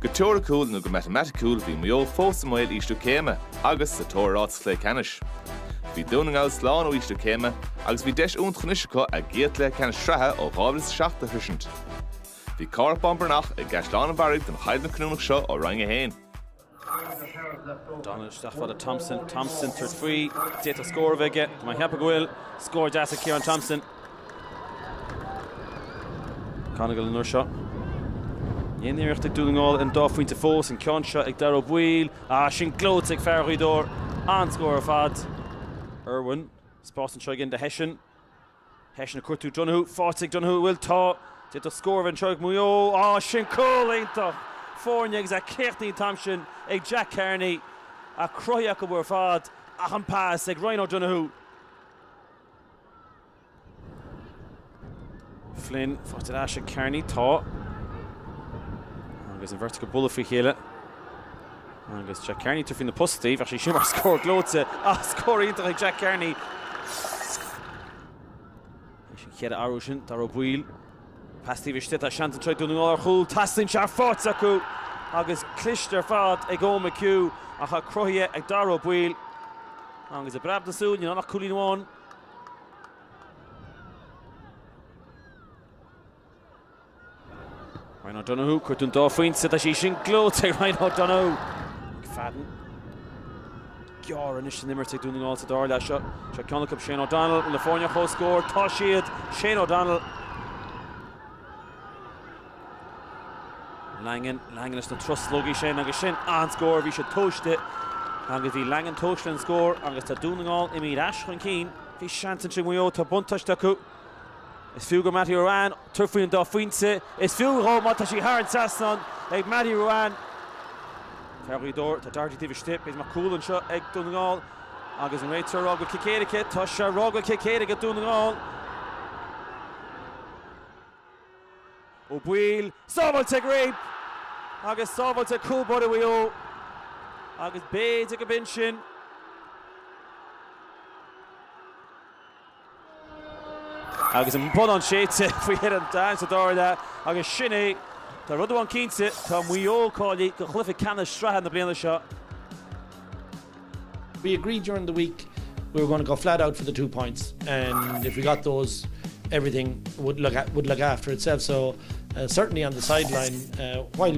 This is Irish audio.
Go teoiriciúil nó go matamaiticiúil bhí Maigh Eo fós i mbaol ísliú céime agus sa tóir ar áit sa chluiche ceannais. Bhí Dún na nGall slán ó ísliú céime agus bhí deis iontach anois acu a gcéad chluiche ceannais sraithe ó 2007 a shroisint. Bhí Cárthach Bán Breathnach i gCaisleán an Bharraigh don choimhlint chinniúnach seo ó Roinn 1. O'Donnell isteach fada Thompson, Thompson tabhairt faoi, d'fhéadfadh scór a bheith aige, tá mé ag ceapadh go bhfuil. Scór deas ag Ciarán Thompson. McGonagle an uair seo. Aon iarracht ag Dún na nGall ar an dá phointe fós, an ceann seo ag Daire Ó Baoill, ah sin gleoite ag fear Ghaoth Dobhair, an-scór ar fad. Irwin, spás anseo again do Hession. Hession ag cuartú Donoghue faighte ag Donoghue an bhfuil Tá d'fhéadfadh scór a bheith anseo ag Maigh Eo á sin cúl iontach foirne agus é críochnaithe an t-am sin ag Jack Carney ach cruthaithe acu ar fad ach an pas ag Ryan O'Donoghue Flynn faighte ar ais ag Carney Tá agus an bheirt acu ag bualadh faoi chéile. Agus Jack Carney tabhairt faoi na postaí, bheadh sé sin mar scór gleoite ach scór iontach ag Jack Carney leis an chéad athrú sin, Daire Ó Baoill, pas taobh istigh, tá seans anseo ag Dún na nGall ar chúl, teastaíonn sé faighte acu agus cliste ar fad ag Eoin McHugh ach tá cruthaithe ag Daire Ó Baoill agus i bpreab na súl, níl ann ach cúilín amháin. Ryan O'Donoghue, ag cuartú an dá phointe, tá sí, sin gleoite ag Ryan O'Donoghue. McFadden, géire anois san imirt ag Dún na nGall sa dara leath seo. Seo ceann acu, Shane O'Donnell bhfuil na foirne comhscór, tá siad, Shane O'Donnell. Langan, Langan is na truslógaí sin agus sin an scór, bhí siad tomhaiste agus bhí Langan tomhaiste an scór agus tá Dún na nGall imithe ar ais chun cinn. Bhí seans ansin ag Maigh Eo, tá buntáiste acu. Is fiú do Matty Ruane tabhairt faoi an dá phointe. Is fiú dhó má tá sí thar an trasnán ag Matty Ruane. Fear Ghaoth Dobhair, tá Doherty taobh istigh. Peter Mac Cúl anseo ag Dún na nGall agus an réiteoir rá go bhfuil cic éirice. Tá sé rá go bhfuil cic éirice ag Dún na nGall. Ó Baoill, sábháilte ag Reape agus sábháilte ag cúl báire Mhaigh Eo. Agus b'fhéidir go b'in sin. Agus an bonnán séidte faoi thine an Daingin sa dara leath agus sin é tá rud amháin cinnte, tá Maigh Eo cáilithe do chluiche ceannais sraithe na bliana seo. we agreed during the week we were going to go flat out for the two points and if we got those everything would look at would look after itself so uh, certainly on the sideline uh, while